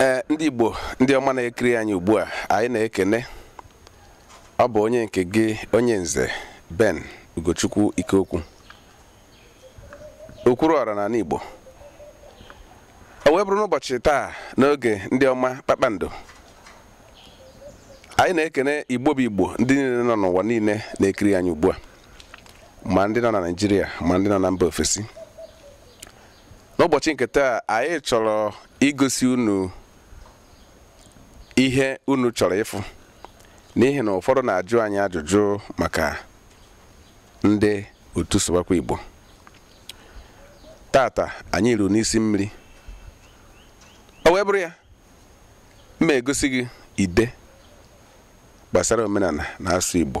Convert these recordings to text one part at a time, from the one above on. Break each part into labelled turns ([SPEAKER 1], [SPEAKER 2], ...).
[SPEAKER 1] ee eh, ndị Igbo ndị ọma na-ekiri anyị ugbu a anyị na-ekene ọ bụ onye nke gị onye nze Ben Ugochukwu Ikeokwu Okwuruọra n'ala Igbo o wee bụrụ n'ụbọchị taa n'oge ndị ọma kpakpando anyị na-ekene Igbo bụ Igbo ndị niile nọ n'ụwa niile na-ekiri anyị ugbu a ma ndị nọ na Naịjirịa ma ndị nọ na mba ofesi n'ụbọchị nke taa anyị chọrọ igosi unu ihe unu chọrọ ịfụ n'ihi na ụfọdụ na-ajụ anyị ajụjụ maka ndị otu Sụwakwa Igbo tata anyị eru n'isi mmiri o wee bụrụ ya m ma-egosi gị ide gbasara omenala na asụsụ Igbo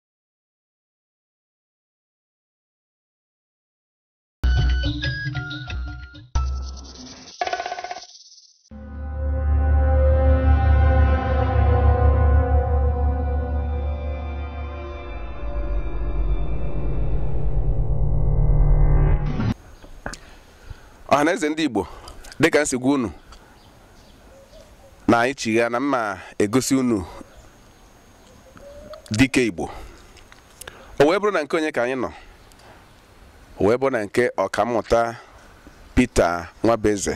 [SPEAKER 1] ọhaneze ndị Igbo dịka m si gwa unu na anyị chigha na m ma-egosi unu dike Igbo o wee bụrụ na nke onye ka anyị nọ o wee bụrụ na nke ọkammụta Pita Nwabueze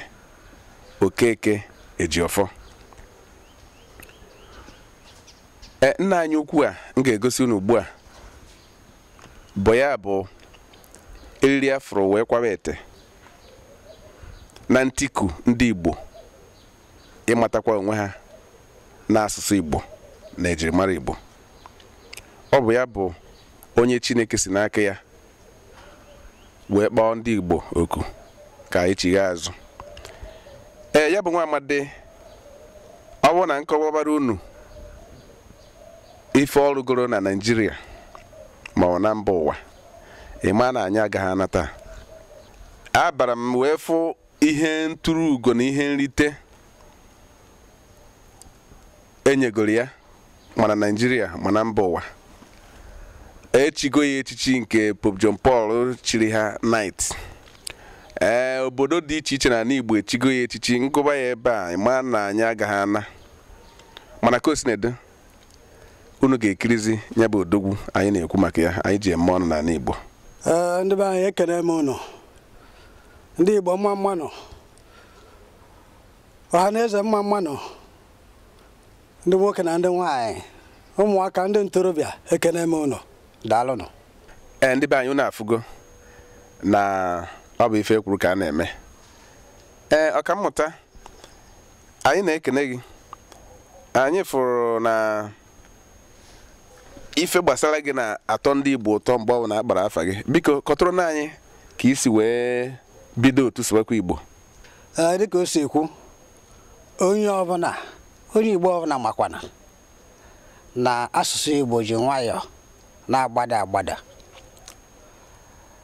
[SPEAKER 1] Okeke Ejiofọ e, nna anyị ukwu a m ga-egosi unu ugbu a bụ ya bụ eriri a fụrụ wee kwawa ete na ntiku ndị Igbo ịmatakwa onwe ha n'asụsụ Igbo na ejirimara Igbo ọ bụ ya bụ onye Chineke si n'aka ya wee kpọọ ndị Igbo oku ka anyị chigha azụ ee ya bụ nwa amadi ọ bụrụ na m kọwabara unu ife ọ rụgoro na Naịjirịa ma ọ na mba ụwa ị ma na anyị agaghị ana taa abara m wee fụ ihe nturu ugo na ihe nrite e nyegoro ya ma na Naịjirịa ma na mba ụwa e chigo ya echichi nke Pope John Paul chiri ha Knight ee obodo dị iche iche n'ala Igbo e chigo ya echichi m gụba ya ebe a ị ma na anyị agaghị ana mana ka o unu ga-ekirizi nya bụ odogwu anyị na-ekwu maka ya anyị ji eme ọnụ n'anị Igbo ee ndị be
[SPEAKER 2] anyị ekene m unu ndị Igbo mma mma nụ ọha na eze mma mma nụ ndị nwoke na ndị nwaanyị ụmụaka ndị ntorobịa ekene m unu daalụnụ ee ndị
[SPEAKER 1] be anyị unu afụgo na ọ bụ ife e kwuru ka a na-eme ee ọkammụta anyị na-ekene gị anyị fụrụ na ife gbasara gị na-atọ ndị Igbo ụtọ mgbe ọ bụna a kpara afa gị biko kọtụrụnụ anyị ka i si wee bido otu sụwakwa Igbo dịka o
[SPEAKER 2] si ekwu onye ọbụna onye Igbo ọbụna makwana na asụsụ Igbo ji nwayọọ na-agbada agbada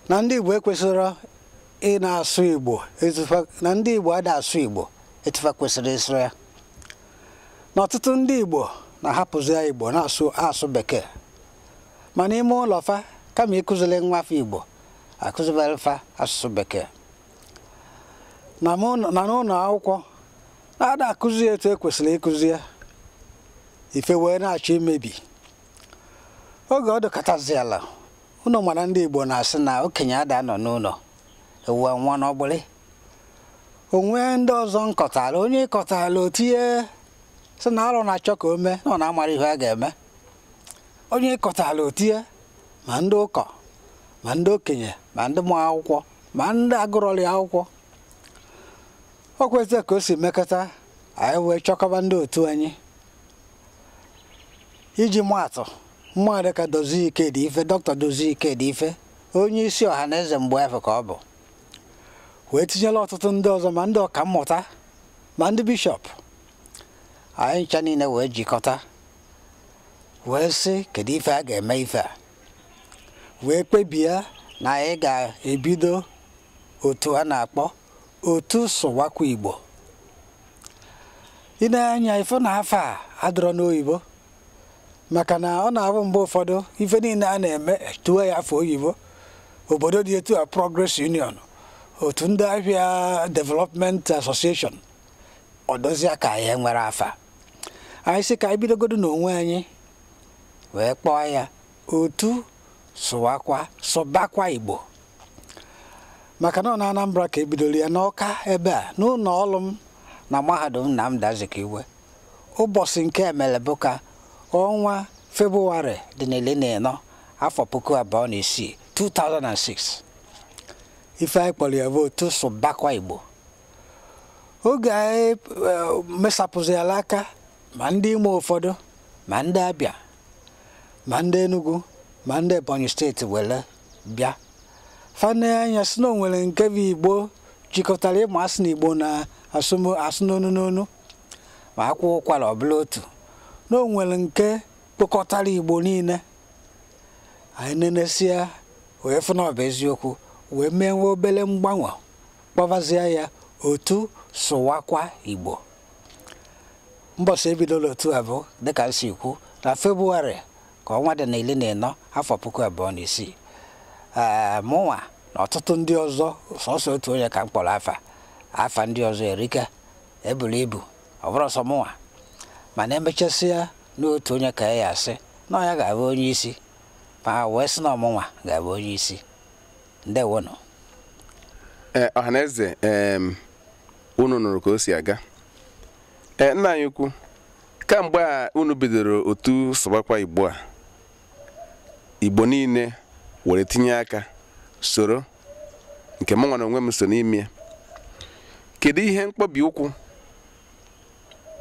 [SPEAKER 2] na ndị Igbo ekwesịrọ ị na-asụ Igbo na ndị Igbo ada asụ Igbo etu fa kwesịrị ịsụ ya na ọtụtụ ndị Igbo na-ahapụzia Igbo na-asụ bekee ma n'ime ụlọ fa kama ịkụziri nwa fa Igbo a kụzibere fa asụsụ bekee na n'ụnọ akwụkwọ na-ada akụzi ya etu e kwesịrị ịkụzi ya ife wee na-achọ imebi oge ọ dịkataziala unu mara ndị Igbo na-asị na okenye ada anọ n'ụnọ ewu anwaa n'ọgbụlị o nwee ndị ọzọ m kọtara onye ị kọtara o tinye sị na alụ na-achọ ka o mee na ọ na-amara ihe a ga-eme onye ị kọtara o tinye ma ndị ụkọ ma ndị okenye ma ndị ma akwụkwọ ma ndị agụrọli akwụkwọ ọ kwa etu a ka o si mekata anyị wee chọkọba ndị otu anyị iji maatụ mmadụ dịka Dozie Ikedife dọkịta Dozie Ikedife onye isi Ọhanaeze mgbe afụ ka ọ bụ wee tinyela ọtụtụ ndị ọzọ ma ndị ọkammụta ma ndị bishọp anyị ncha niile wee jikọta wee sị kedu ife a ga-eme ife a wee kpebie na anyị ga-ebido otu a na-akpọ otu sụwakwa igbo i nee anya ị fụ na afa a adịrọ n'oyibo maka na ọ na-abụ mgbe ụfọdụ ife niile a na-eme e tuo ya afa oyibo obodo dị etu a progress union otu ndị ahịa development association ọ dịzia ka anyị enwerọ afa anyị sị ka anyị bidogodu n'onwe anyị wee kpọọ ya otu sụwakwa sụbakwa igbo maka na ọ na Anambra ka ebidoro ya n'Ọka ebe a n'ụlọ ọrụ m na mahadum Nnamdi Azikiwe ụbọchị nke emere bụ ka ọnwa Febụwarị dị na iri na ịnọ afọ puku abụọ na isii 2006 ife anyị kpọrọ ya bụ otu sụbakwa Igbo oge anyị mesapụziala aka ma ndị Imo ụfọdụ ma ndị Abịa ma ndị Enugu ma ndị Ebonyi steeti were bịa fa ne anya sị na o nwere nke bụ igbo jikọtara ma a sị na igbo na-asụ n'onu n'onu ma akwa ụkwara ọ bụrụ otu na o nwere nke kpokọtara igbo niile anyị nenesia wee fụ na ọ bụ eziokwu wee mee nwa obere mgbanwe kpọbazie ya otu sụwakwa igbo mbọsị ebidolu otu a bụ dịka m si kwu na febụwarị ka ọnwa dị na iri na ịnọ afọ puku abụọ na isii ee mụnwa na ọtụtụ ndị ọzọ sọsọ otu onye ka m kpọrọ afa afa ndị ọzọ erika eburu ibu ọ bụrọ sọ mụnwa mana emechasịa n'otu onye ka a ya-asị na ọ ya ga-abụ onye isi ma wee sị na ọ mụnwa ga-abụ onye isi ndewonụ ee
[SPEAKER 1] ọhaneze em unu nụrụ ka o si aga ee nna anyị ukwu kamgbe a unu bidoro otu sụbakwa igbo a igbo niile were tinye aka soro nke mụnwa n'onwe m so n'ime ya kedu ihe mkpọbi ụkwụ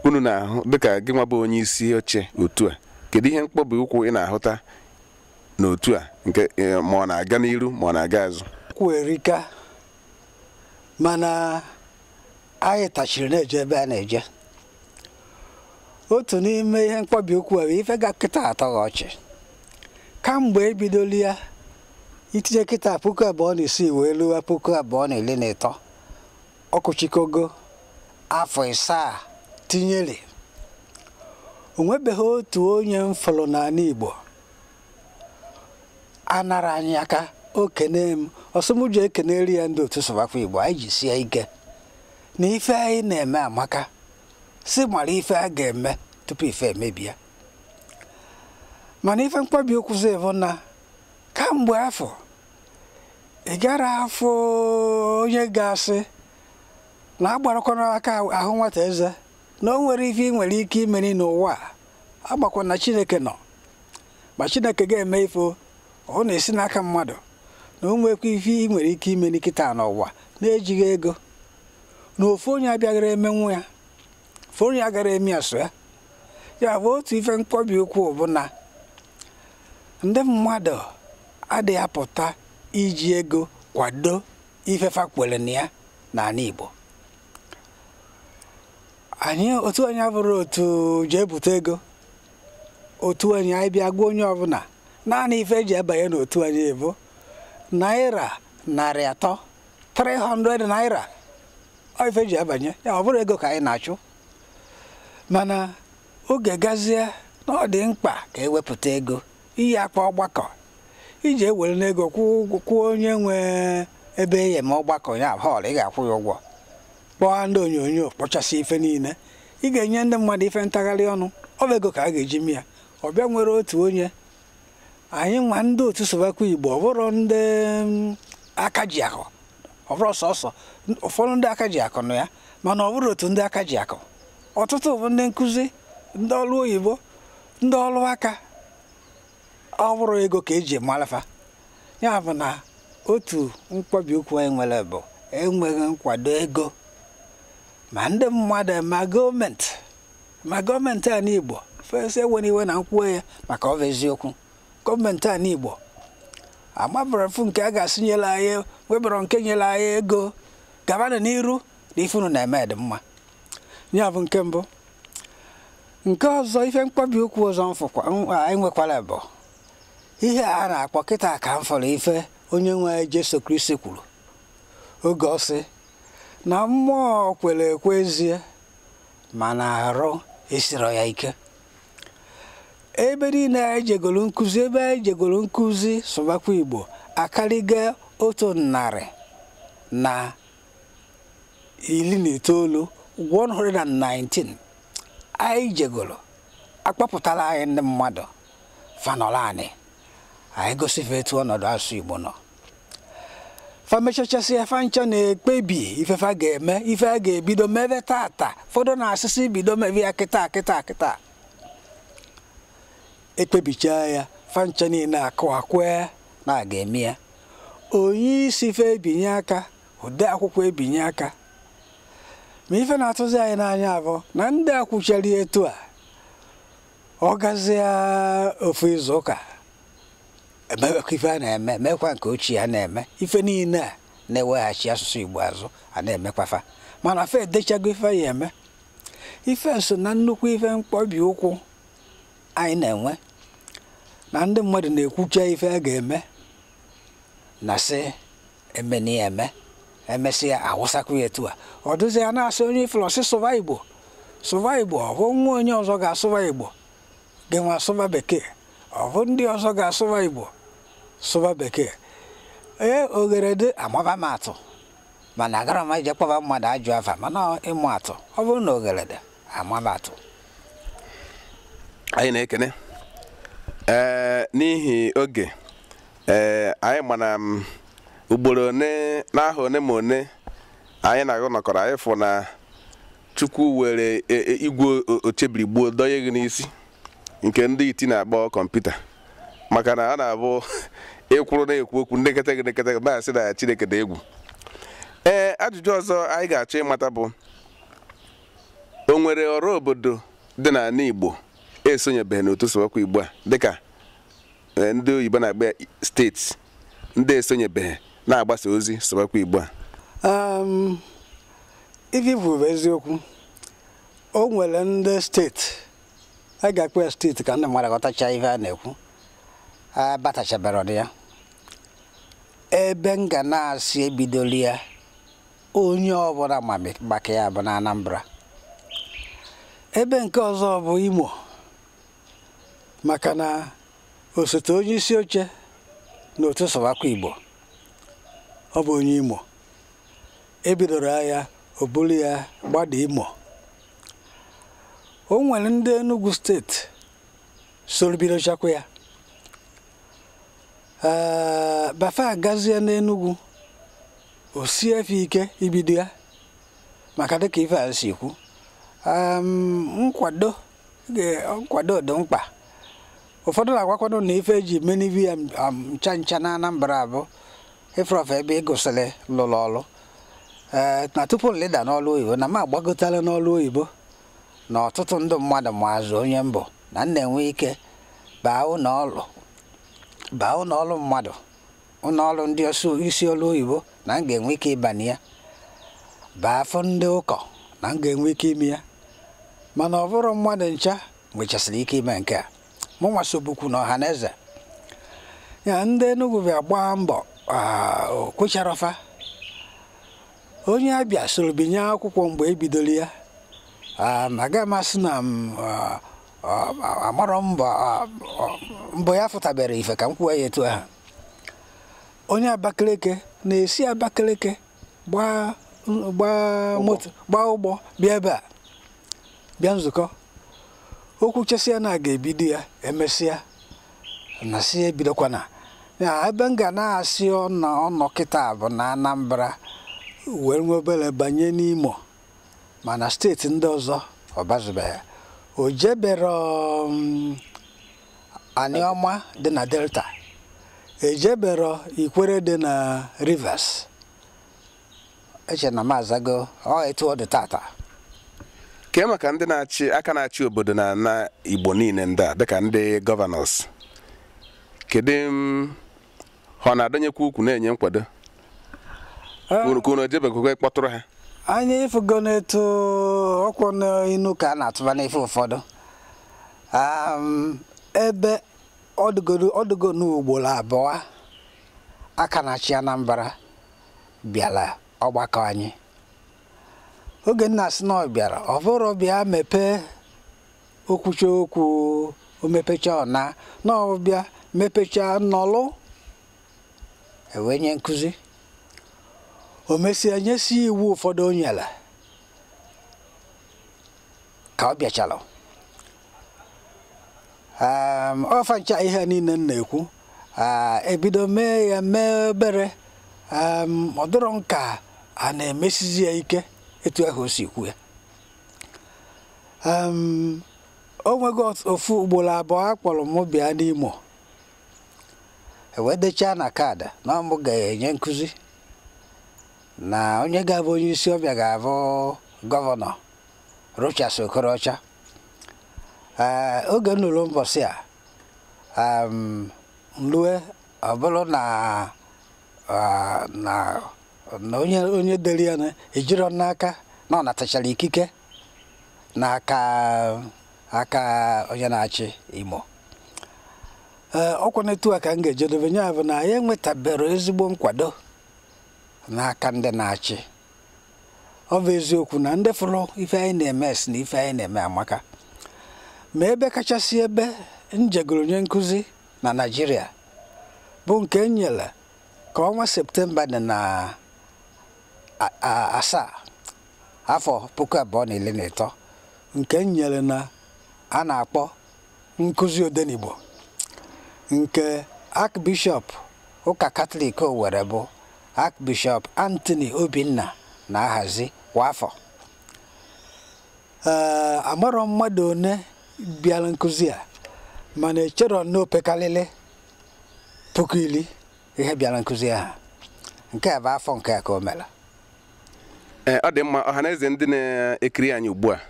[SPEAKER 1] unu na-ahụ dịka gị nwa bụ onye isi oche otu a kedu ihe mkpọbi ụkwụ ị na-ahụta n'otu a nke eh, ma ọ na-aga n'iru ma ọ na-aga azụ kwụ erika
[SPEAKER 2] mana anyị tachiri na-eje ebe a na-eje otu n'ime ihe mkpọbi ụkwụ a bụ ife ga kịta atọghị ọchị kamgbe ebidolu ya itinye kịta puku abụọ na isii wee luwa puku abụọ na iri na ịtọ ọkụchikogo afọ isaa tinyere onwebeghị otu onye m fụrụ n'ala Igbo anarọ anyị aka o kene m ọ sị mụ jee keneri ya ndị otu sụwakwa Igbo anyị jisie ike na ife anyị na-eme amaka sị mara ife a ga-eme tupu ife emebie mana ife mkpọbi ụkwụzi bụ na kamgbe afọ ị gara afọ onye ga-asị na agbarakwana aka ahụ nwata eze na o nwere ife ị nwere ike imeri n'ụwa a agbakwa na chineke nọ ma chineke ga-eme ife ọ na-esi n'aka mmadụ na o nwekwa ife ị nwere ike imeli kịta n'ụwa n'ejighị ego na ofu onye abịaghara emenwu ya ofu onye agara eme ya sọ ya ya bụ otu ife mkpọbi ụkwụ bụ na ndị mmadụ adịghị apụta iji ego kwado ife fa kwere na ya n'ala Igbo anyị otu anyị abụrọ otu eji ebute ego otu anyị anyị bịa gwa onye ọbụla naanị ife eji abanye n'otu anyị bụ naira narị atọ 300 naira ọ ife eji abanye ya ọ bụrọ ego ka anyị na-achụ mana oge gazie na ọ dị mkpa ka ewepụta ego ị ya-akpọ ọgbakọ iji ewere n'ego kwụọ onye nwe ebe a ya-eme ọgbakọ ya hall ị ga-akwụ ya ụgwọ kpọọ ndị onyonyo kpọchasị ife niile ị ga-enye ndị mmadụ ife ntagharị ọnụ ọ bụ ego ka a ga-eji mee ya ọ bịa nwere otu onye anyị nwa ndị otu Sụbakwa Igbo ọ bụrọ ndị mm, aka ji akụ ọ bụrụ sọsọ ụfọdụ ndị aka ji akụ nọ ya mana ọ bụrọ otu ndị aka ji akụ ọtụtụ bụ ndị nkụzi ndị ọrụ oyibo ndị ọrụ aka ọ bụrọ ego ka eji mara fa ya bụ na otu mkpọbi ụkwụ anyị nwere bụ enweghị nkwado ego ma ndị mmadụ ma gọọmenti ma gọọmenti ana Igbo fesa enwere iwe na m kwuo ya maka ọ bụ eziokwu gọọmenti ana Igbo amabarọ m ofu nke a ga-asị nyere anyị webara nke nyere anyị ego gabanụ n'iru na ife unu na-eme dị mma ya bụ nke mbụ nke ọzọ ife mkpọbi ụkwụ ọzọ anyị nwekwara bụ ihe a na-akpọ kịta ka m fụrụ ife onye nwe anyị Jesu Kristi kwuru oge ọ sị na mmụọ kwere ekwe ezie mana arụ esiro ya ike ebe niile anyị jegoro nkụzi ebe anyị jegoro nkụzi Sụbakwa Igbo akarịga otu narị na iri na itoolu 119 anyị jegoro a kpọpụtara anyị ndị mmadụ fa nọrọ anyị anyị gosi fa etu ọnọdụ asụsụ Igbo nọ fa mechachasịa fa ncha na-ekpebi ife fa ga-eme ife a ga-ebido mebe tata ụfọdụ na-asị sị bido mebe ya kịta kịta kịta ekpebichaa ya fa ncha niile akụọ aka ekwe na a ga-eme ya onye isi fa ebinye aka ode akwụkwọ ebinye aka ma ife na-atụzi anyị n'anya abụ na ndị a kwuchara etu a ọ gazia ofu izu ụka emekwa ife a na-eme mekwa nke ochie a na-eme ife niile a na-eweghachi asụsụ Igbo azụ a na-emekwafa mana fa edechago ife fa ya-eme ife so na nnukwu ife mkpọbi ụkwụ anyị na-enwe na ndị mmadụ na-ekwucha ife a ga-eme na sị emeni ya eme emesịa awụsakwa ya etu a ọ dụzi ya na-asị onye ị fụlụ ọ sị sụba igbo sụba igbo ọ bụ nwa onye ọzọ ga-asụba igbo gị nwa asụba bekee ọ bụ ndị ọzọ ga-asụba igbo sụba bekee ee oghere dị amaba m atụ mana agarọ m eje kpọba mmadụ ajọ afa mana ịma atụ ọ bụrụ na oghere dị amaba
[SPEAKER 1] atụ anyị na-ekene ee n'ihi oge ee anyị mana m ugboro one n'aha one ma one anyị na-agụ nọkọrọ anyị fụ na chukwu were e- e- igwe o- ochebiri gbuo dọnye gị n'isi nke ndị iti na-akpọ kọmputa maka na a na-abụ ị kwụrụ na-ekwu okwu ndị nekata gị na-asị na Chineke dị egwu ee ajụjụ ọzọ anyị ga-achọ ịmata bụ o nwere ọra obodo dị n'anị Igbo esonyebeghị n'otu sụwakwa Igbo a dịka ee, ndị oyibo na-akpọ ya steeti ndị esonyebeghị na-agbasa ozi sụwakwa Igbo a Um,
[SPEAKER 2] ife i kwu bụ eziokwu o nwere ndị steeti a ga-akpọ ya steeti ka ndị mmadụ ghọtacha ife a na-ekwu abatachaberọdị ya ebe m ga na-asị e bidolu ya onye ọbụla ma maka ya bụ na Anambra ebe nke ọzọ bụ Imo maka na osote onye isi oche na otu sụbakwa Igbo ọ bụ onye Imo e bidoro ya o buru ya gbada Imo o nwere ndị Enugu steeti soro bidochakwa ya ee ma fa gazie n'Enugu o sie fa ike ibido ya maka dịka ife a si kwu nkwado nkwado dị mkpa ụfọdụ na-agwakwa m na ife e ji menive ya ncha ncha na Anambra bụ ị fụrọfụ ebe ị gụsịrị lụrụ ọrụ ee na tupu m lịda n'ọrụ oyibo na m agbagotala n'ọrụ oyibo na ọtụtụ ndị mmadụ maazị onye m bụ na m na-enwe ike baa ụnọ ọrụ baa ụnọ ọrụ mmadụ ụnọ ọrụ ndị ọsụ- isi ọrụ oyibo na m ga-enwe ike ịbanye ya baa fụ ndị ụkọ na m ga-enwe ike ime ya mana ọ bụrọ mmadụ ncha nwechasịrị ike ime nke a mụnwa sobukwu na Ọhaneze ya ndị Enugu bịa gbaa mbọ o kwecharọ fa onye Abịa soro binye akwụkwọ mgbe e bidoro ya agaghị m asị na m amarọ mbọ ya fụtaberọ ife ka m kwuo ya etu ahụ onye Abakaliki na-esi Abakaliki gbaa gbaa moto gbaa ụgbọ bịa ebe a bịa nzukọ o kwuchesịa na a ga-ebido ya emesịa na sị ebidokwana ya ebe m ga na-asị ọ nọ ọ nọ kịta bụ na Anambra wee nwe obere banye n'Imo mana steeti ndị ọzọ ọ bazubeghị o jebero um, Anioma dị na Delta e jebero Ikwere dị na Rivers eche m na m azago ọ etu ọ dị tata
[SPEAKER 1] kee maka ndị aka na-achị obodo na na Igbo niile ndị a dịka ndị gọvanọs kedu ha ọ na-adọnyekwa ukwu na-enye nkwado unu ka unu ejebekwa kpọtụrụ ha anyị ị
[SPEAKER 2] fụgo na etu ọ kwụ n'inu ka a na-atụba n'ife ụfọdụ ebe ọ dụgo n'ugboro abụọ aka na-achị Anambra bịara ọgbakọ anyị oge m na-asị na ọ bịara ọ bụrọ bịa mepee o kwuchaa okwu o mepechaa ọ naa na ọ bịa mepechaa nọlụ e wee nye nkụzi o mesịa nyesie iwu ụfọdụ o nyere ka ọ bịachara ọ fa ncha ihe niile m na-ekwu ebido mee ya mee obere ọ dịrọ m ka a na-emesizi ya ike etu ahụ o si kwu ya o nwego ofu ugboro abụọ a kpọrọ m bịa n'Imo e wee dechaa na kaadị na ọ mụ ga-enye nkụzi na onye ga-abụ onye isi ọbịa ga-abụ gọvanọ Rochas Okorocha ee oge m lulu mbọsị a m lue ọ bụrụ na na onye onye dere ya ejirọ m n'aka na ọ natachara ikike n'aka aka onye na-achị Imo ee ọ kwa na etu a ka m ga-ejedebe nya bụ na anyị enwetabero ezigbo nkwado n'aka ndị na-achị ọ bụ eziokwu na ndị fụrụ ife anyị na-eme sị na ife anyị na-eme amaka ma ebe kachasị ebe m jegoro nye nkụzi na Naịjirịa bụ nke m nyere ka ọnwa septemba dị na asaa afọ puku abụọ na iri na ịtọ nke m nyere na a na-akpọ nkụzi Odenigbo nke Archbishop ụka Katọlik Owerri bụ Archbishop Anthony Obinna na-ahazi kwa afọ ee amarọ m mmadụ one bịara nkụzi a mana echere m na opekalịlị puku ili ihe bịara nkụzi ahụ nke a bụ afọ nke a ka o
[SPEAKER 1] mere Ee, ọ dị mma ọha na eze ndị na-ekiri anyị ugbu a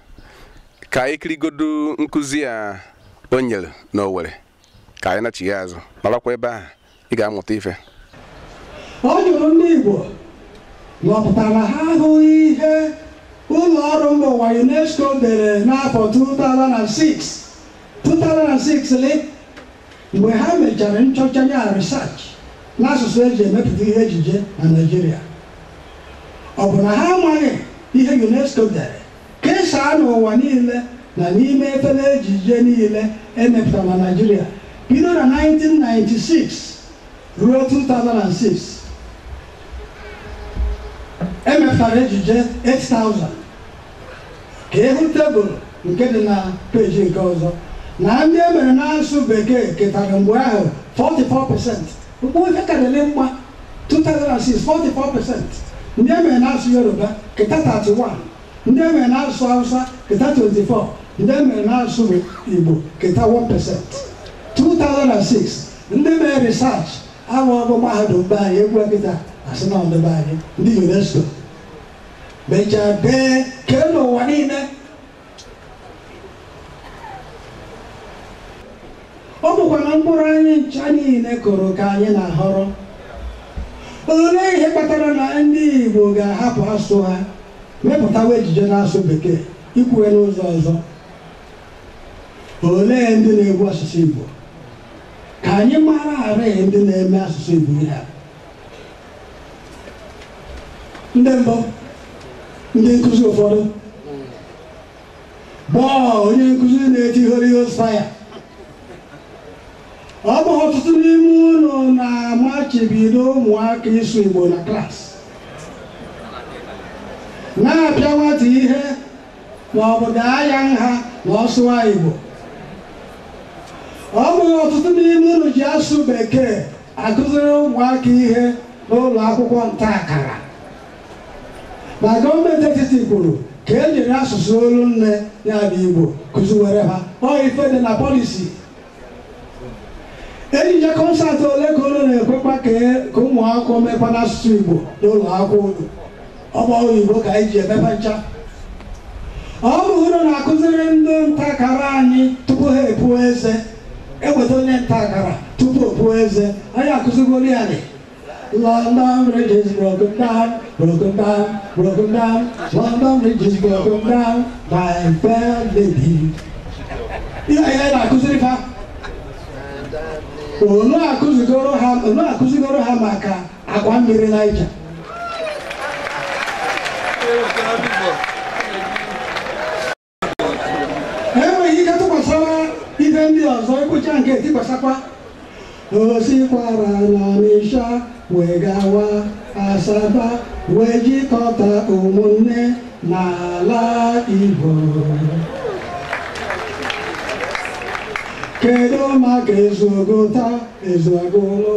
[SPEAKER 1] ka anyị kirigodu nkụzi a o nyere n'Owerri ka anyị nachigha azụ nọrọkwa ebe ahụ ị ga-amụta
[SPEAKER 3] ife ọ jụrụ ndị Igbo na ọ pụtara na ha ahụghị ihe ụlọ ọrụ mba ụwa UNESCO dere n'afọ 2006 2006 lị mgbe ha mechara nchọcha ya research n'asụsụ eji emepụta ihe ejije na Naịjirịa ọ bụ na ha amaghị ihe UNESCO dere Kesaa n'ụwa niile na n'ime efere ejije niile e mepụtara na Naịjirịa bido na 1996 ruo 2006. E mepụtara ejije 8,000. Ka ị hụ tebụl nke dị na peeji nke ọzọ na ndị e mere n'asụsụ Bekee ketara mgbe ahụ 44%. Mgbe ife ka dịrị mma 2006 44 percent ndị e mere n'asụsụ Yoruba keta 31 ndị e mere n'asụsụ Hausa keta 24 ndị e mere n'asụsụ Igbo keta 1 percent 2006 ndị mere research ahụ ọ bụ mahadum be anyị e kwuo kịta a sị na ọ ndị be anyị ndị UNESCO mechaa dee kee n'ụwa niile ọ bụkwa na mkpụrụ anyị ncha niile kụrụ ka anyị na-aghọrọ olee ihe kpatara na ndị Igbo ga-ahapụ asụsụ ha mepụtawa ejije n'asụsụ bekee ikwu ya n'ụzọ ọzọ olee ndị na-egbu asụsụ Igbo ka anyị mara arịghị ndị na-eme asụsụ Igbo ihe a ndị mbụ ndị nkụzi ụfọdụ bụrụ onye nkụzi na-eti Holy Ghost fire ọ bụghị ọtụtụ n'ime unu na-amachibido ụmụaka ịsụ Igbo na klaasị na-apịa nwata ihe ma ọ bụ daa ya nha na ọ sụwa Igbo ọ bụghị ọtụtụ n'ime unu ji asụsụ bekee akụziri ụmụaka ihe n'ụlọ akwụkwọ nta akara ma gọọmenti etiti kwuru ka e jiri asụsụ olu nne ya bụ Igbo kụziwere ha ọ ife dị na pọlisi ejije kọnsatị ole ka unu na-ekwekwa ka ụmụaka mekwa n'asụsụ Igbo n'ụlọ akwụkwọ unu Ọ bụ oyibo ka anyị ji emepe ncha. Ọ bụ unu na-akụziri ndị nta akara anyị tupu ha epuo eze. Eweta onye nta akara tupu o puo eze. Anyị akụzigoro ya nị. London Bridge is broken down, broken down, broken down. London Bridge is broken down, my fair lady. Ihe anyị na-akụziri fa. Unu akụzigoro ha maka akwa mmiri naija enweghị ike tikasịa ife ndị ọzọ ịkpụcha nke tikwasakwa o sikwara n'ọnịsha wee gawa asaba wee jikọta ụmụnne n'ala igbo kedu maka ezu ọgụta ezu agụlụ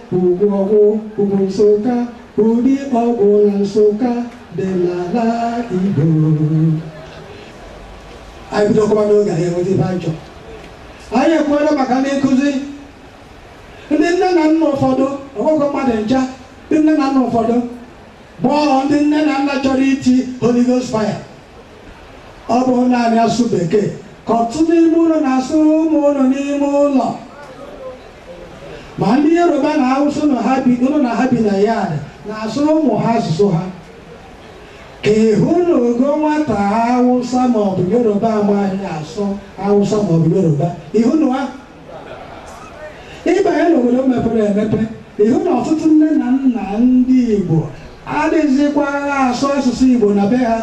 [SPEAKER 3] Ugwu Ọgwụ ugwu Nsụka Udi Ọgwụ na Nsụka dị n'ala Igbo anyị bidokwa n'oge anyị enweta ife anyị chọrọ anyị ekwuola maka ndị nkụzi ndị nne na nna ụfọdụ ọ bụghịkwa mmadụ ncha ndị nne na nna ụfọdụ bụ ndị nne na nna chọrọ iti Holy Ghost fire ọ bụ naanị asụ bekee ka ọtụtụ n'ime unu na-asụ ụmụ unu n'ime ụlọ ma ndị yoruba na hausa unu na ha bi na yard na-asụrụ ụmụ ha asụsụ ha ka ị hụnugo nwata hausa maọbụ yoruba amaghị asụ hausa maọbụ yoruba ịhụ na ha ị banye n'obodo mepere emepe ị hụ na ọtụtụ nne na nna ndị igbo adịghịzikwa asụ asụsụ igbo na be ha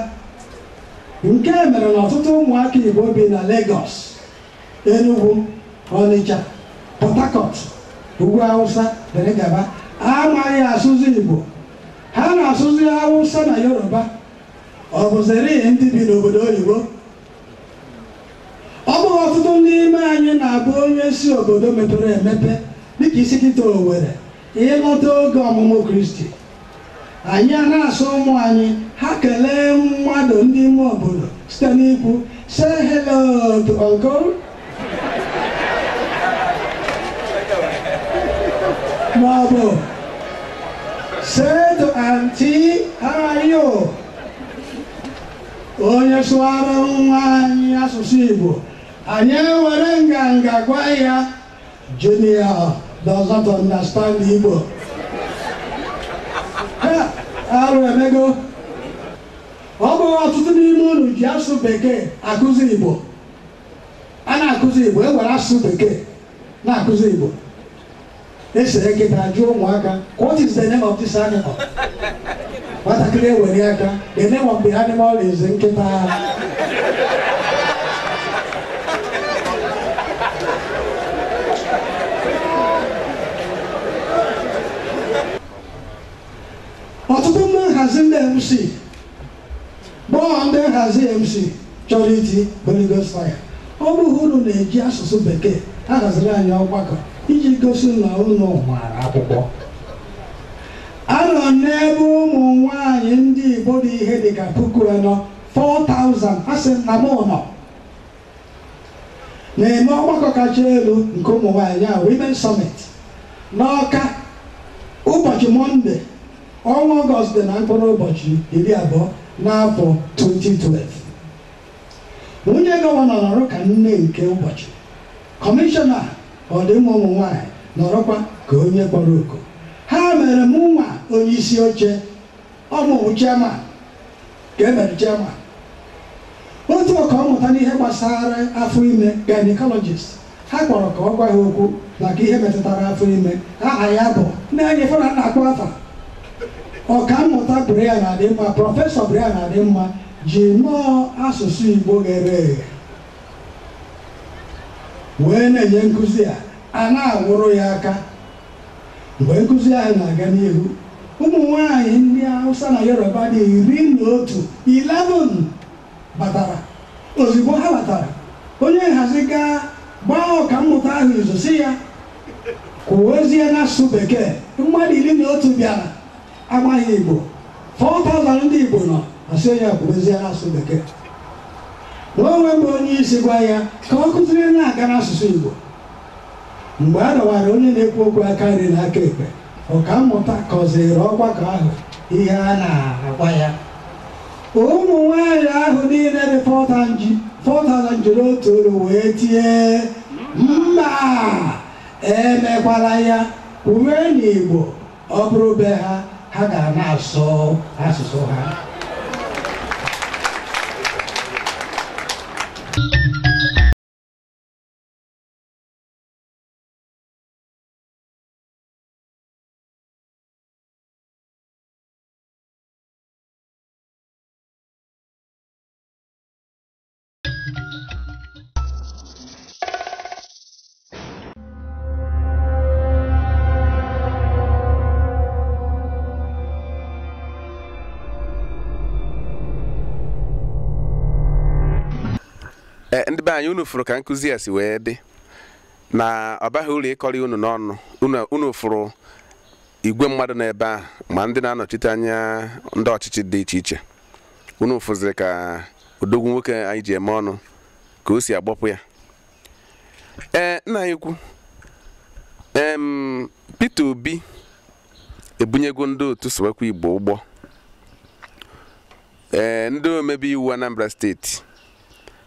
[SPEAKER 3] nke mere na ọtụtụ ụmụaka igbo bi na Lagos Enugu, Ọnịcha, Port Harcourt, Ugwu Awụsa dịrị gaba amaghị asụsụ Igbo ha na-asụzi Awụsa na Yoruba ọ bụziri ndị bi n'obodo oyibo ọ bụghị ọtụtụ n'ime anyị na-abụ anyị si obodo mepere emepe dịka ị sị kịta Owerri ịlọta oge ọmụmụ kristi anyị a na-asị ụmụ anyị ha kelee mmadụ ndị ime obodo site n'ikwu say hello to uncle ma ọ bụ say to auntie how are you onye sụwara nwa anyị asụsụ igbo anyị ewere nganga gwa ya Junior doesn't understand Igbo. Ha, arụ emego. Ọ bụghị ọtụtụ n'ime unu ji asụsụ bekee akụzi Igbo. A na-akụzi Igbo, e were asụsụ bekee na-akụzi Igbo. E sere nkịta jụọ ụmụaka, what is the name of this animal? nwatakịrị ewere aka the name of the animal is nkịta ọtụtụ ndị nhazi ndị mc bụ ndị nhazi mc chọrọ iti Holy Ghost fire ọ bụghị unu na-eji asụsụ bekee ahaziri anyị ọgbakọ iji gosi na unu maara akwụkwọ Anọ m n'ebe ụmụ nwaanyị ndị Igbo dị ihe dị ka puku anọ 4,000 asị m na m nọ na-eme ọgbakọ kacha elu nke ụmụ nwaanyị a Women Summit n'Ọka ụbọchị Mọnde ọnwa Ọgọst dị na mkpụrụ ụbọchị iri abụọ n'afọ 2012 nwunye gọvanọ nọrọ ka nne nke ụbọchị Kọmishọna ọdịmma ụmụ nwaanyị nọrọkwa ka onye kpọrọ oku ha mere mụ nwa onye isi oche ọ mụwa chairman ka e mere chairman otu ọka mmụta n'ihe gbasara afọ ime gynecologist ha kpọrọ ka ọ gwa ha okwu maka ihe metụtara afọ ime aha ya bụ na-enye fana na-akpọ afa ọka mmụta Brian Adịnma prọfesọ Brian Adịnma ji nọọ asụsụ Igbo ghere eghe wee na-enye nkụzi a a na-akụrụ ya aka mgbe nkụzi ahụ na-aga n'ihu ụmụ nwanyị ndị Hausa na Yoruba dị iri na otu 11 batara ozugbo ha batara onye nhazi gaa gbaa ọka mmụta ahụ izu sị ya kwuwezie n'asụsụ bekee mmadụ iri na otu bịara amaghị Igbo 4,000 ndị Igbo nọ asị onye a kwubezie n'asụsụ bekee mụ onwe m bụ onye isi gwa ya ka ọ kụziri na-aga n'asụsụ Igbo mgbe a dọwara onye na-ekwu okwu aka nri na aka ekpe ọka mmụta kọziri ọgbakọ ahụ ihe a na-agwa ya ụmụ nwanyị ahụ niile dị 4,000 jiri otu olu wee tie mba emekwala ya kwuwe n'Igbo Ọ bụrụ be ha, ha ga na-asụ asụsụ ha.
[SPEAKER 1] Eh, ndị be anyị unu fụrụ ka nkụzi a si wee dị na ọ baghị uru ịkọrị unu n'ọnụ unu fụrụ igwe mmadụ n'ebe ahụ ma ndị na-anọchite anya ndị ọchịchị dị iche iche unu fụziri ka odogwu nwoke anyị ji eme ọnụ ka o si agbapụ ya ee nna anyị ukwu em Peter Obi ebunyego ndị otu Sụwakwa Igbo ụgbọ ee ndị omebe iwu Anambra steeti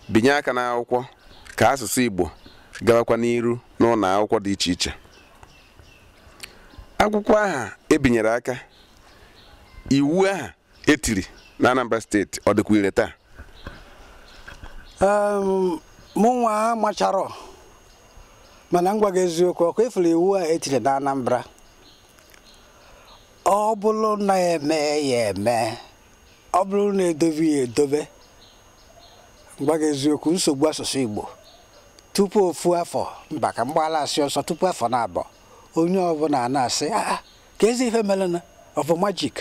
[SPEAKER 1] binye aka n'akwụkwọ ka asụsụ Igbo gawakwa n'iru n'ụlọ akwụkwọ dị iche iche akwụkwọ aha ebinyere aka iwu aha etiri na Anambra steeti ọ dịkwa ire taa
[SPEAKER 2] Em, mụ nwa amacharọ mana m gwa gị eziokwu ọkwa ị fụrụ iwu a etiri na Anambra ọ bụrụ na eme ya eme ọ bụrụ na edobe ya edobe m gwa gị eziokwu nsogbu asụsụ Igbo tupu ofu afọ mba ka m gbaala asị ọsọ tupu afọ naabọ onye ọbụla na-asị "Ah, ah, kezi ife merenụ ọ bụ majik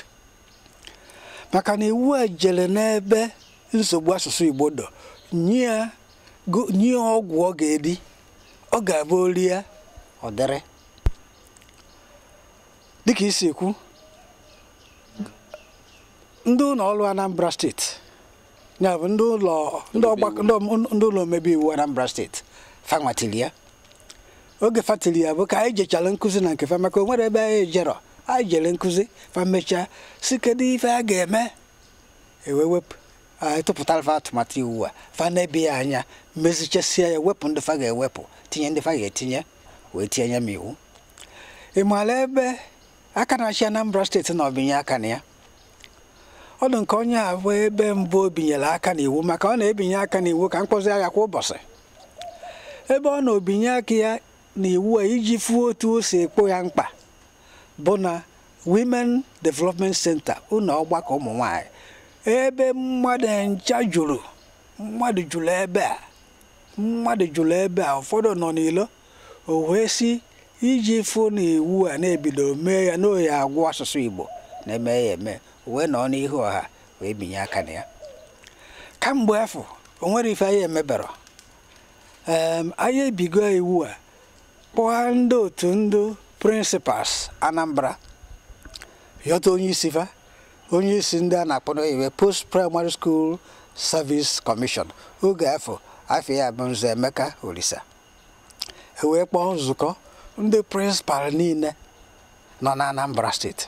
[SPEAKER 2] maka na iwu a jere n'ebe nsogbu asụsụ Igbo dọ nye ọgwụ ọ ga-eri ọ ga-abụ o rie ọ dịrị dịka i si ekwu ndị ụlọ ọrụ Anambra steeti ya bụ ndị ụlọ ndị ọgbakọ ndị ọm- ndị ụlọ omebe iwu anambra steeti fanwa tili ya oge fa tili ya bụ ka anyị jechara nkụzi na nke fa maka o nwerọ ebe anyị ejerọ anyị jere nkụzi fa mechaa sị kedu ife a ga-eme e wee wepụ anyị tụpụtara fa atụmatụ iwu a fa nebe ya anya mezichasịa ya wepụ ndị fa ga-ewepụ tinye ndị fa ga-etinye wee tinye n'iwu ị maara ebe aka na-achị anambra steeti nọ binye aka na ya ọ dị nke onye a bụ ebe mbụ o binyere aka n'iwu maka ọ na-ebinye aka n'iwu ka m kpọzia ya kwa ụbọchị ebe ọ nọ binye aka ya n'iwu a iji fụ otu o si ekpo ya mkpa bụ na Women Development Center ụlọ ọgbakọ ụmụ nwanyị ebe mmadụ ncha juru mmadụ juru ebe a mmadụ juru ebe a ụfọdụ nọ n'ilo o wee sị iji fụ na iwu a na-ebido mee ya na oyi agwụ asụsụ Igbo na-eme ya eme wee nọ n'ihu ọha wee binye aka na ya kamgbe afụ o nwere ife anyị emebere anyị ebigo iwu a kpọọ ndị otu ndị principals Anambra yọta onye isi fa onye isi ndị a na-akpọ n'oyibo post primary school service commission oge afụ afa ya bụ Nze Emeka Olisa ewee kpọọ nzukọ ndị principal niile nọ na Anambra steeti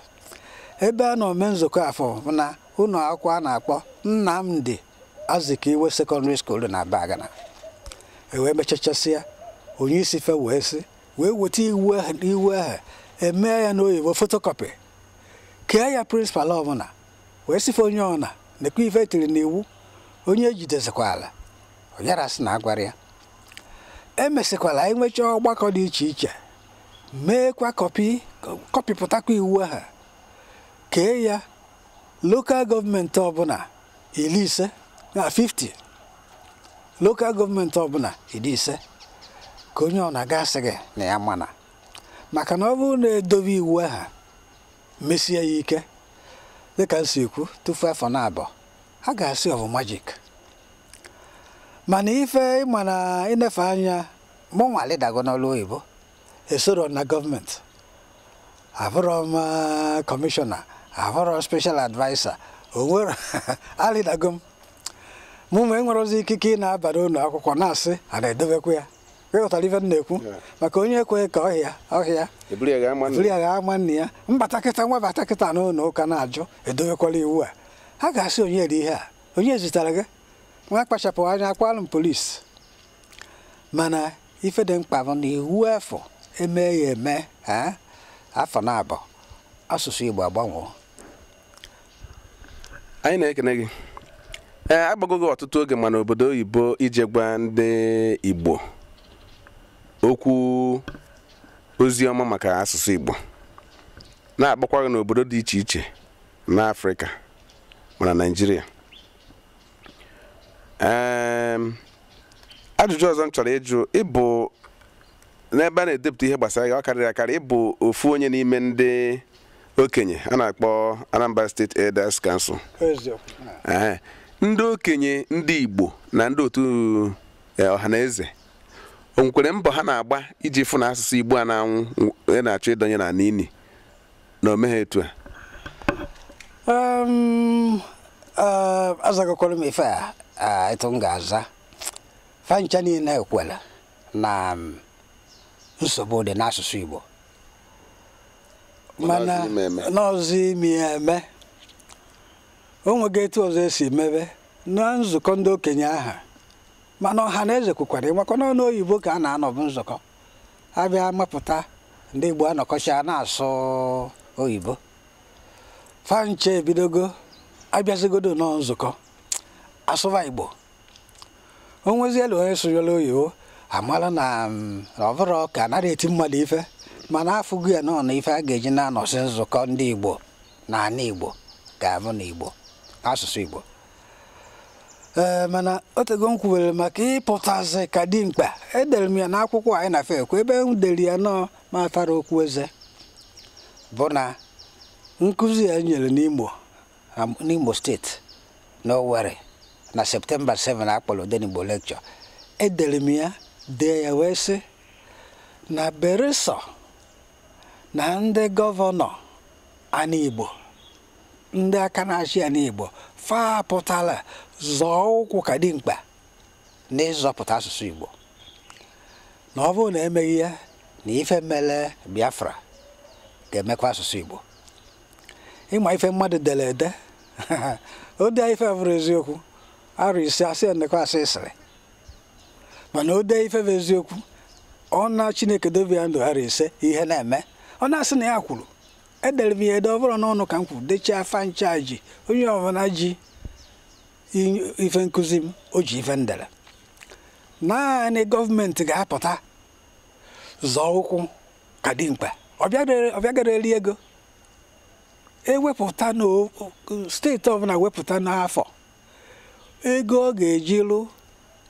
[SPEAKER 2] ebe a nọ mee nzukọ afụ na ụlọ akwụkwọ a na-akpọ Nnamdi Azikiwe Secondary School na Abagana ewee mechachasịa onye isi fa wee sị wee weta iwu ahụ iwu ahụ emee ya n'oyibo photocopy kee ya principal ọbụla wee sị fa onye ọna nekwa ife e tiri n'iwu onye ejidezikwala ọ yara sị na agwara ya emesịkwara anyị nwechaa ọgbakọ dị iche iche meekwa kọpị kọpịpụtakwa iwu ahụ kee ya lokal gọọmenti ọbụla iri ise na 50 lokal gọọmenti ọbụla iri ise ka onye ọna ga-asị gị na ya mana maka na ọ bụrụ na e dobe iwu ahụ mesie ya ike dịka m si ekwu tufu afọ na abụọ a ga-asị ọ bụ majik mana ife ị ma na ịnefe anya mụnwa alịdago n'ọrụ oyibo esorọ m na gọọmenti abụrọ m eh, kọmishọna abụrọ special adviser onwere alịdago m mụnwa enwerọzi ikike ịna-aba n'ụlọ akwụkwọ na-asị a na-edebekwa ya ị ghọtara ife m na-ekwu maka onye ekweghị ka ọhịa ọhịa eburu ya ga ama buru ya ga ama nna ya m bata kịta nwa bata kịta n'ụlọ ụka na-ajụ edobekwala iwu a ha ga-asị onye ri ihe a onye zitara gị nwa kpachapụ anya akwalụ m polisi mana ife dị mkpa bụ na iwu afụ e mee ya eme afọ na abụọ asụsụ Igbo agbanwee
[SPEAKER 1] anyị na-ekene gị ee eh, akpọgo gị ọtụtụ oge ma na obodo oyibo ije gwa ndị igbo okwu ozi ọma maka asụsụ igbo na-akpọkwa gị n'obodo dị iche iche n'afrịka ma na naijiria ajụjụ ọzọ m chọrọ ịjụ ị bụ n'ebe a na-edepụta ihe gbasara ya ọ karịrị akarị ị bụ ofu onye n'ime ndị okenye a na-akpọ Anambra State Elders Council ndị okenye ndị Igbo na ndị otu eh, Ọhaneze o nwekwara mbọ ha na-agba iji fụ na asụsụ Igbo a na-anwụ a na-achọ ịdọnye na n'ili na o meghị etu a
[SPEAKER 2] um, uh, azagokwara m ife a uh, etu m ga-aza fancha niile ekwela na um, nsogbu dị n'asụsụ Igbo mana n'ọzọ ime eme o nweghị etu ọzọ esi mebe na nzukọ ndị okenye aha mana ọha na eze kwukwara ị makwa na ọ n'oyibo ka a na-anọbu nzukọ abịa mapụta ndị Igbo anọkọcha na-asụ oyibo fancha ebidogo abịazigodo nọ nzukọ asụba Igbo o nweziela onye sụnyere oyibo amala na mm, ọ bụrụ ka anaghị eti mmadụ ife mana afụgo ya nọ na ife a ga-eji na-anọsị nzukọ ndị Igbo na ana Igbo ga-abụ na Igbo asụsụ Igbo ee mana otego m kwuwere maka ịpụtazi ka dimkpa edere m ya n'akwụkwọ anyị na fekwa ebe m dere ya nọọ ma atarọ okwu eze bụ na nkụzi ya nyere n'Imo n'Imo steeti na Owerri na septemba 7 akpọrọ Odenigbo lecture edere m ya dee ya wee sị na beresọ na ndị gọvanọ ana Igbo ndị aka na-achị ana Igbo fa pụtala zọọ ụkwụ ka dimkpa n'ịzọpụta asụsụ Igbo na ọ bụrụ na emeghị ya na ife mere Biafra ga-emekwa asụsụ Igbo ị ma ife mmadụ dere ede o dee ife bụrọ eziokwu arọ ise a sị nekwa asị ị sịrị mana o dee ife bụ eziokwu ọ na Chineke dobe ya ndụ arọ ise ihe na-eme ọ na-asị na ya kwuru edere m ya ede ọ bụrọ n'ọnụ ka m kwuru dechaa fancha ji onye ọbụla ji i- ife nkụzi m o ji ife m dere naanị gọọmenti ga-apụta zọọ ụkwụ ka dimkpa ọ bịadere- ọ bịagara eri ego ewepụta na o- o- steeti ọbụla wepụta n'afọ ego ọ ga-eji lụ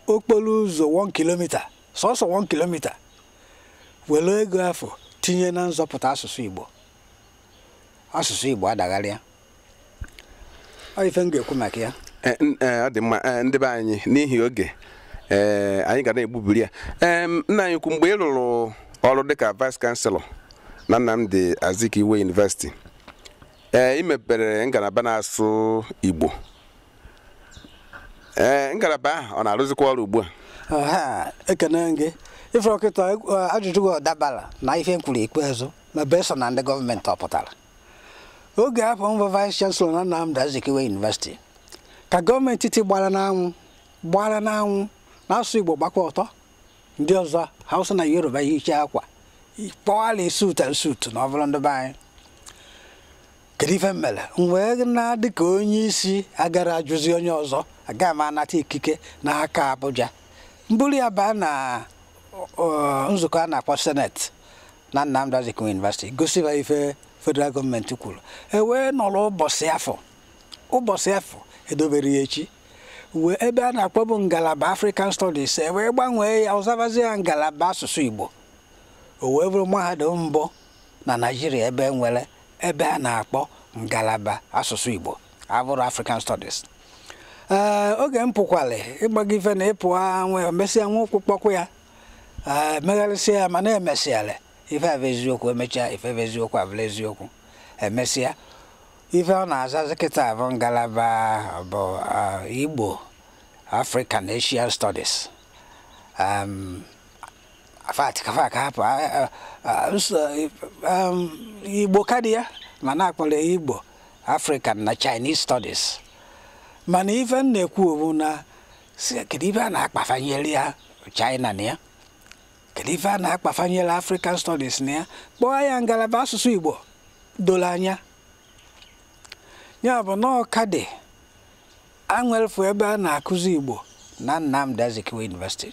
[SPEAKER 2] okporo ụzọ 1 kilomita sọsọ 1 kilomita were ego afụ tinye na nzọpụta asụsụ Igbo asụsụ Igbo adagharịa ọ ife m ga-ekwu maka ya eh, eh, ọ dị mma
[SPEAKER 1] eh, ndị be anyị n'ihi oge ee anyị ga na-egbubiri ya ee nna anyị ukwu mgbe ị rụrụ ọrụ dịka vice chancellor na Nnamdi Azikiwe University ee ị mepere ngalaba n'asụsụ Igbo ee ngalaba ahụ ọ na-arụzikwa ọrụ ugbu a
[SPEAKER 2] Aha, ekene m gị ife kịta ajụjụ gị ọ dabara na ife m kwuru ikpeazụ na beso na ndị gọọmenti ọ pụtara oge afụ m bụ vice chancellor na Nnamdi Azikiwe University ka gọọmenti etiti gbara n'anwụ gbara n'anwụ na asụsụ Igbo gbakwa ọtọ ndị ọzọ Hausa na Yoruba yicha akwa kpọwala suit and suit na ọ bụrụ ndị be anyị kedu ife m mere m wee na dị ka onye isi agarọ ajụzi onye ọzọ aga m anata ikike n'aka Abuja m buru ya baa na ọ, nzukọ a na-akpọ Senate na Nnamdi Azikiwe University gosi ha ife federal gọọmenti kwuru e wee nọrọ ụbọchị afụ ụbọchị afụ edoberọ ya echi wee ebe a na-akpọbu ngalaba African Studies e wee gbanwee ya ọ zabazịa ngalaba asụsụ Igbo o wee bụrụ mahadum mbụ na Naịjirịa ebe e nwere ebe a na-akpọ ngalaba asụsụ Igbo abụrọ African Studies ee oge m pụkwalụ ịgbago ife na ị pụa emesịa wee ụkwụ kpọkwụ ya ee megharịsịa ya mana emesịala ife bụ eziokwu emechaa ife bụ eziokwu abụlụ eziokwu emesịa ife ọ na-azazi kịta bụ ngalaba bụ Igbo African Asian Studies um, afa atọ ka fa ka hapụ a- a- a- nsọ um, igbo ka dị ya mana a kpọrọ ya igbo african na chinese studies mana ife m na-ekwu bụ na sị kedu ife a na-akpafanyere ya china na ya kedu ife a na-akpafanyere african studies na ya kpọọ ya ngalaba asụsụ igbo doro anya ya bụ na ọ ka dị e nwelufu ebe a na-akụzi igbo na Nnamdi Azikiwe University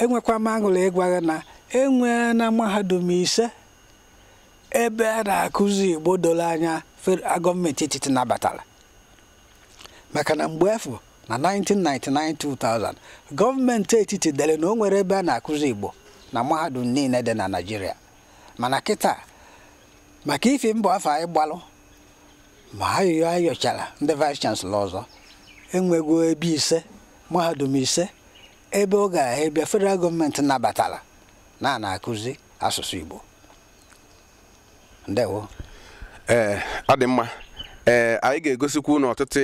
[SPEAKER 2] enwekwa m aṅụrị ịgwa gị na enwena mahadum ise ebe a na-akụzi igbo doro anya gọọmenti etiti nabatara maka na mgbe afụ na 1999-2000 gọọmenti etiti dere na o nwerọ ebe a na-akụzi igbo na mahadum niile dị na Naịjirịa mana kịta maka ifi mbọ afụ anyị gbalụ ma ayịyọ a yọchara ndị vice chancellor ọzọ enwego ebe ise mahadum ise ebe ọ gara ebe federal gọọmenti nabatara na a na-akụzi asụsụ Igbo ndewo
[SPEAKER 1] ee ọ dị mma ee anyị ga-egosikwu unu ọtụtụ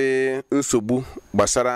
[SPEAKER 1] nsogbu gbasara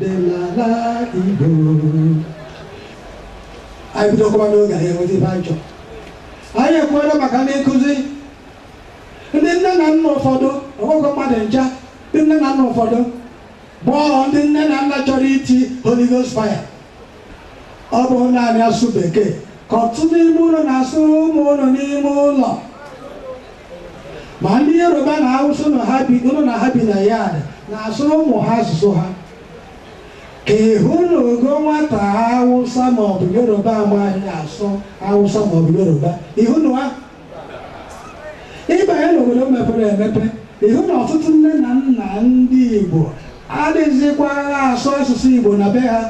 [SPEAKER 3] dị n'ala Igbo anyị bidokwa n'oge anyị enweta ife anyị chọrọ anyị ekwuola maka ndị nkụzi ndị nne na nna ụfọdụ ọ bụghọ mmadụ ncha ndị nne na nna ụfọdụ bụ ndị nne na nna chọrọ iti Holy Ghost fire ọ bụ naanị asụsụ bekee ka ọtụtụ n'ime ụlọ na-asụ ụmụ ụlọ n'ime ụlọ ma ndị yoruba na hausa unu na ha bi na yard na-asụrụ ụmụ ha asụsụ ha ka ịhụ na ogo nwata hausa maọbụ yoruba amaghị asụ hausa maọbụ yoruba ịhụ na ịbanye n'obodo mepere emepe ịhụ na ọtụtụ nne na nna ndị igbo adịghịzikwa asụ asụsụ igbo na be ha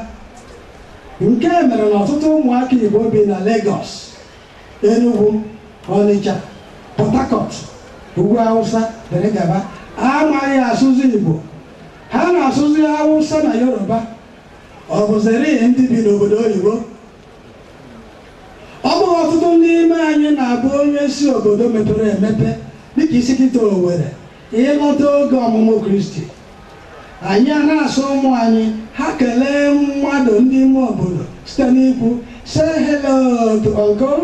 [SPEAKER 3] nke mere na ọtụtụ ụmụaka igbo bi na Lagos Enugu, Ọnịcha, Port Harcourt, Ugwu Awụsa dịrị gaba amaghị asụsụ Igbo ha na-asụzi Awụsa na Yoruba ọ bụziri ndị bi n'obodo oyibo ọ bụghị ọtụtụ n'ime anyị na-abụ onye si obodo mepere emepe dịka isi kịta Owerri ịlọta oge ọmụmụ Kristi Anyị ana-asị ụmụ anyị ha kelee mmadụ ndị ime obodo site n'ikwu say hello to uncle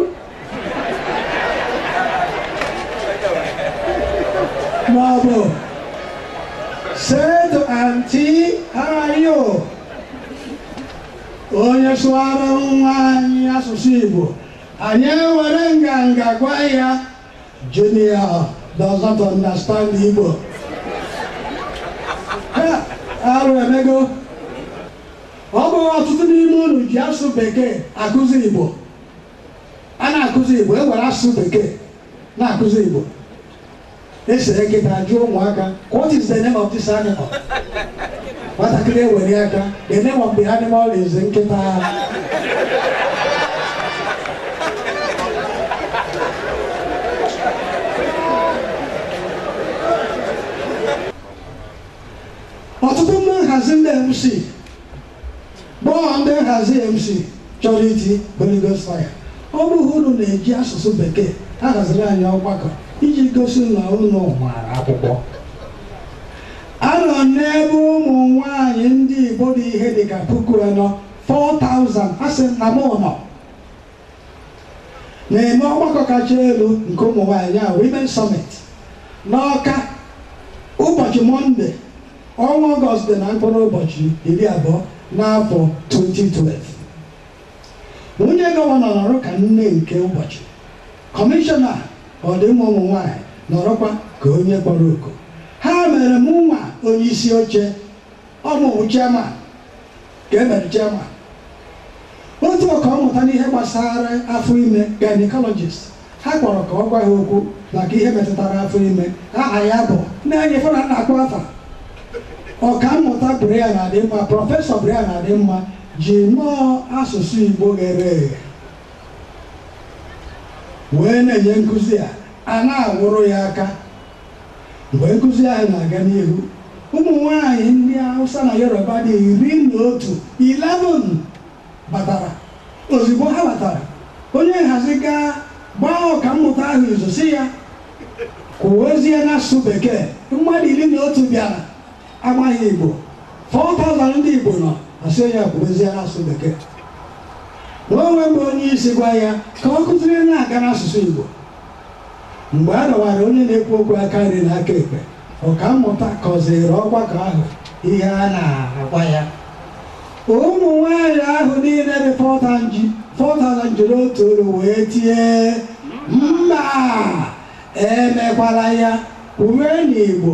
[SPEAKER 3] ma ọ bụ say to auntie how are you onye sụara nwa anyị asụsụ Igbo anyị ewere nganga gwa ya Junior does not understand Igbo. Ha, arụ emego. Ọ bụghị ọtụtụ n'ime unu ji asụsụ bekee akụzi Igbo. A na-akụzi Igbo, e were asụsụ bekee na-akụzi Igbo. E sere nkịta jụọ ụmụaka, what is the name of this animal? nwatakịrị ewere aka the name of the animal is nkịta ọtụtụ ndị nhazi ndị mc gbọọ ndị nhazi mc chọrọ iti Holy Ghost fire ọ bụghị unu na-eji asụsụ bekee ahaziri anyị ọgbakọ iji gosi na unu maara akwụkwọ Anọ m n'ebe ụmụ nwaanyị ndị Igbo dị ihe dị ka puku anọ 4,000 asị m na m nọ na-eme ọgbakọ kacha elu nke ụmụ nwaanyị ya Women Summit n'Ọka ụbọchị Mọnde ọnwa Ọgọst dị na mkpụrụ ụbọchị iri abụọ n'afọ 2012 nwunye gọvanọ nọrọ ka nne nke ụbọchị Kọmishọna ọdịmma ụmụ nwaanyị nọrọkwa ka onye kpọrọ oku ha mere mụ nwa onye isi oche ọ mụwa chairman ka e mere chairman otu ọka mmụta n'ihe gbasara afọ ime gynecologist ha kpọrọ ka ọ gwa ha okwu maka ihe metụtara afọ ime aha ya bụ na-enye fana na-akpọ afa ọka mmụta Brian Adịnma prọfesọ Brian Adịnma ji nnọọ asụsụ Igbo ghere eghe wee na-enye nkụzi a a na-akụrụ ya aka mgbe nkụzi ahụ na-aga n'ihu ụmụ nwanyị ndị Hausa na Yoruba dị iri na otu 11 batara ozugbo ha batara onye nhazi gaa gbaa ọkammụta ahụ izu sị ya kwuwezie n'asụsụ bekee mmadụ iri na otu bịara amaghị Igbo 4,000 ndị Igbo nọ a sị onye kwubezie n'asụsụ bekee na o nwe mgbe onye isi gwa ya ka o kwuziri na-aga n'asụsụ Igbo mgbe a dọwara onye na-ekwu okwu aka nri na aka ekpe ọkammụta kọziri ọgbakọ ahụ ihe a na-agwa ya ụmụ nwanyị ahụ niile dị 4,000 jiri otu olu wee tie mba emekwala ya kwuwe n'Igbo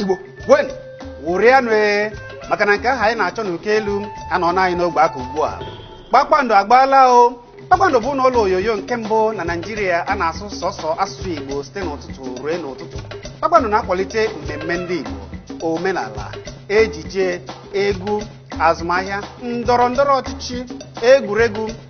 [SPEAKER 4] igbo ṅụrịanụ ee maka na nke ahụ anyị na-achọ n'uko elu anọọla anyị n'ogbe aka ugbu a kpakpando agbaala o kpakpando bụnụ ụlọ onyonyo nke mbụ na naịjirịa a na-asụ sọsọ asụsụ igbo site n'ụtụtụ ruo n'ụtụtụ kpakpando na-akwalite mmemme ndị igbo omenala ejije egwu azụmahịa ndọrọ ndọrọ ọchịchị egwuregwu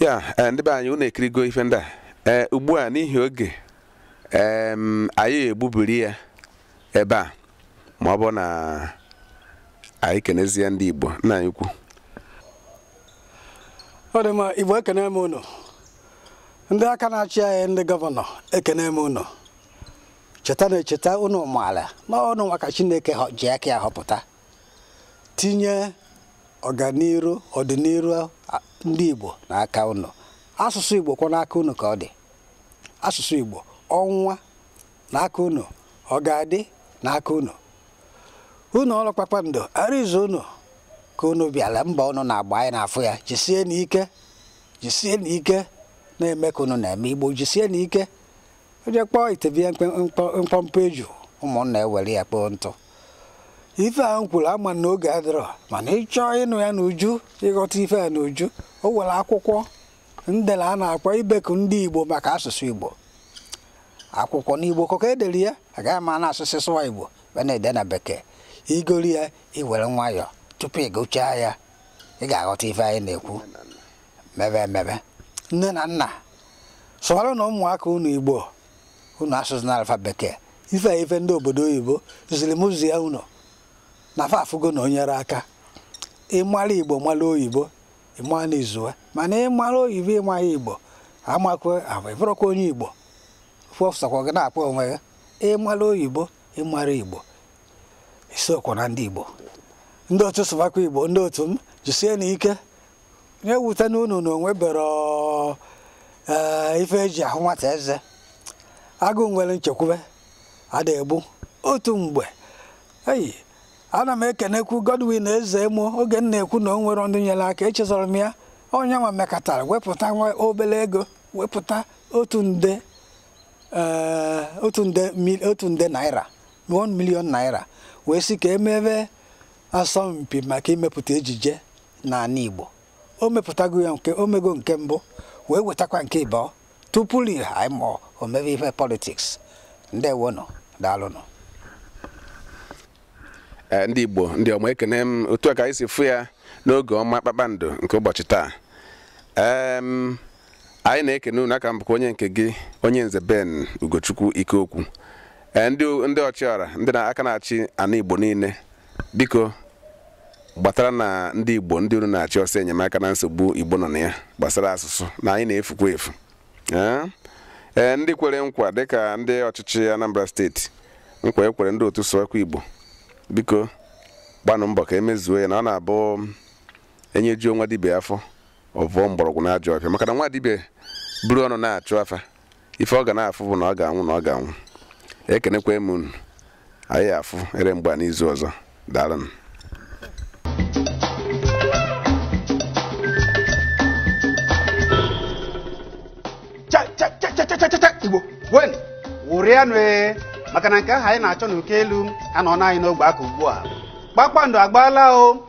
[SPEAKER 1] ya eh, ndị be anyị unu ekirigo ife ndị a ee eh, ugbu a n'ihi oge anyị egbubiri ya ebe a ma ọ bụ na anyị kenezie ndị Igbo nna anyị ukwu
[SPEAKER 2] ọ dị
[SPEAKER 1] mma
[SPEAKER 2] Igbo ekene m unu ndị aka na-achị anyị ndị gọvanọ ekene m unu cheta na echeta unu maala na unu nwa ka chineke họ- ji aka ya họpụta tinye ọganiru ọdịnihu a- ndị igbo n'aka unu asụsụ igbo kwa n'aka unu ka ọ dị asụsụ igbo ọ nwụa n'aka unu ọ ga-adị n'aka unu ụnọ ọrụ kpakpando arịọzi unu ka unu bịara mbọ unu na-agba anyị na-afụ ya jisie n'ike jisie na ike na-eme ka unu na-eme igbo jisie na ike onye kpọọ ite be ya mkpọmkpọ eju ụmụnna ewere ya kpoo ntụ ife a m kwuru ama m na oge adịrọ mana ị chọọ ịnụ ya n'uju ịghọta ife a n'uju o nwere akwụkwọ m dere a na-akpọ ibeku ndị igbo maka asụsụ igbo akwụkwọ n'igbo ka e dere ya agaghị m ana-asị sụwa igbo wee na-ede na bekee i goro ya i were nwayọọ tupu ị gụchaa ya ị ga-aghọta ife anyị na-ekwu mebe emebe nne na nna sụwaranụ ụmụaka unu igbo unu asụzịnalụ fa bekee ife a ife ndị obodo oyibo ziri m zie unu na fa afụgo na o nyere aka ịmara igbo mara oyibo ịmara na izuwe mana ịmara oyibo ịmarọ igbo amakwe ahụ ịbụrọkwa onye igbo ọ bụ sọkwa gị na-akpọ onwe gị ịmara oyibo ịmarọ igbo isokwa na ndị Igbo ndị otu sụbakwa Igbo ndị otu m jisienụ ike nya ewutena unu na o nweberọ ife eji ahụ nwata eze agụụ nwere nchekwube ada egbu otu mgbe eyi ana m ekenekwu Godwin Ezeemo oge m na-ekwu na o nwere ndị nyere aka echezọrọ m ya onye nwa mekatara wepụta nwa obere ego wepụta otu nde eh, otu nde naira 1 million naira wee sị ka emebe asọmpi maka imepụta ejije n'ana Igbo o mepụtago ya nke o mego nke mbụ wee wetakwa nke ịbụọ tupu ihe anyị ma o mebe ihe politiks ndewonụ
[SPEAKER 1] daalụnụ eh, ndị Igbo ndị ọma ekene m otu a ka anyị si fụ ya n'oge ọma kpakpando nke ụbọchị taa anyị na-ekene unu aka m bụkwa onye nke gị onye nze Ben Ugochukwu Ikeokwu ee ndị ndị ọchịọra ndị aka na-achị ana Igbo niile biko gbataranụ ndị Igbo ndị unu na-achị ọsọ enyemaka na nsogbu Igbo nọ na ya gbasara asụsụ anyị na-efukwa efu ee ee ndị kwere nkwa dịka ndị ọchịchị Anambra steeti nkwa e kwere ndị otu sụwakwa Igbo biko gbanụ mbọ ka e mezuo ya na ọ na-abụ e nyejuo nwa dibịa afọ ọ vụọ mgbọrọgwụ n'ajọ ọfịa maka na nwa dibịa buru ọnụ na-achụ afa ife ọ ga na-afụ bụ na ọ ga-anwụ na ọ ga-anwụ ekenekwa m unu anyị afụ ere mgbe a n'izu ọzọ daalụnụ
[SPEAKER 4] igbo ṅụrịanụ ee maka na nke ahụ anyị na-achọ n'uko elu anọna anyị n'ogbe aka ugbu a kpakpando agbaala o